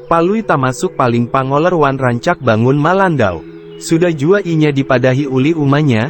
Palui tamasuk paling pangoler wan rancak bangun malandau. Sudah jua inya dipadahi ulih umanya,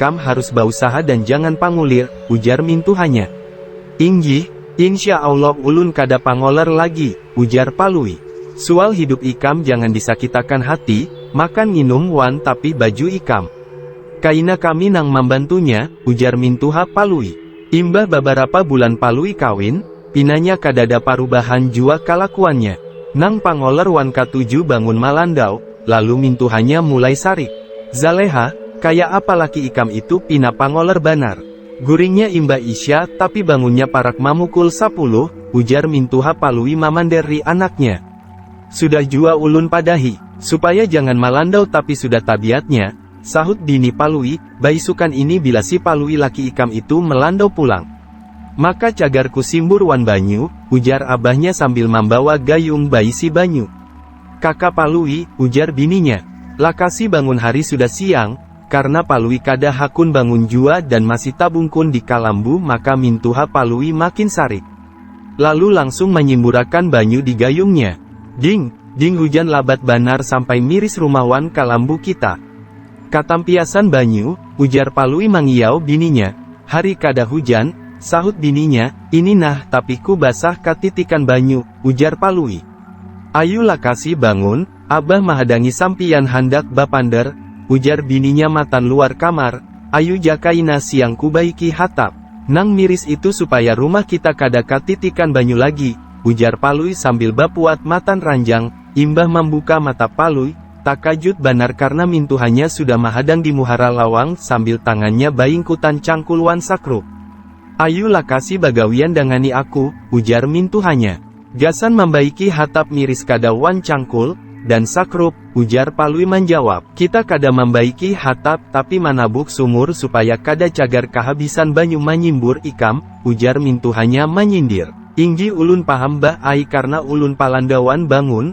Kam harus bausaha dan jangan pangulir, ujar mintuhanya. Inggih, insya Allah ulun kada pangoler lagi, ujar Palui. Sual hidup ikam jangan disakitakan hati, makan nginum wan tapi baju ikam. Kaina kami nang mambantunya, ujar mintuha Palui. Imbah babarapa bulan Palui kawin, Pinanya kadada parubahan jua kalakuannya. Nang pangoler wan katuju bangun malandau, lalu mintuhanya mulai sarik. Zaleha, kaya apa laki ikam itu pina pangoler banar. Guringnya imbah isya, tapi bangunnya parak mamukul sapuluh, ujar mintuha Palui mamanderri anaknya. Sudah jua ulun padahi, supaya jangan malandau tapi sudah tabiatnya, sahut bini Palui, baisukan ini bila si Palui laki ikam itu melandau pulang, Maka cagar ku simbur wan banyu, ujar abahnya sambil mambawa gayung baisi banyu. Kaka Palui, ujar bininya. Lakasi bangun hari sudah siang, karna Palui kada hakun bangun jua dan masih tabungkun di kalambu maka mintuha Palui makin sarik. Lalu langsung manyimburakan banyu di gayungnya. Ding! Ding hujan labat banar sampai miris rumah wan kalambu kita. Katampiasan banyu, ujar Palui mangiau bininya. Hari kada hujan, sahut bininya, ini nah tapiku basah katitikan banyu, ujar Palui. Ayu lakasi bangun, abah mahadangi sampiyan handak bapander, ujar bininya matan luar kamar, ayu ja kaina siang kubaiki hatap nang miris itu supaya rumah kita kada katitikan banyu lagi, ujar Palui sambil bapuat matan ranjang, imbah mambuka mata Palui, Takajut banar karna mintuhanya sudah mahadang di muhara lawang sambil tangannya baingkutan cangkul wan sakruk. Ayu lakasi bagawian dangani aku, ujar mintuhanya. Gasan mambaiki hatap miris kada wan cangkul, dan sakruk, ujar Palui manjawab. Kita kada mambaiki hatap tapi manabuk sumur supaya kada cagar kahabisan banyu manyimbur ikam, ujar mintuhanya manyindir. Inggi ulun paham bah ai karna ulun palanda wan bangun,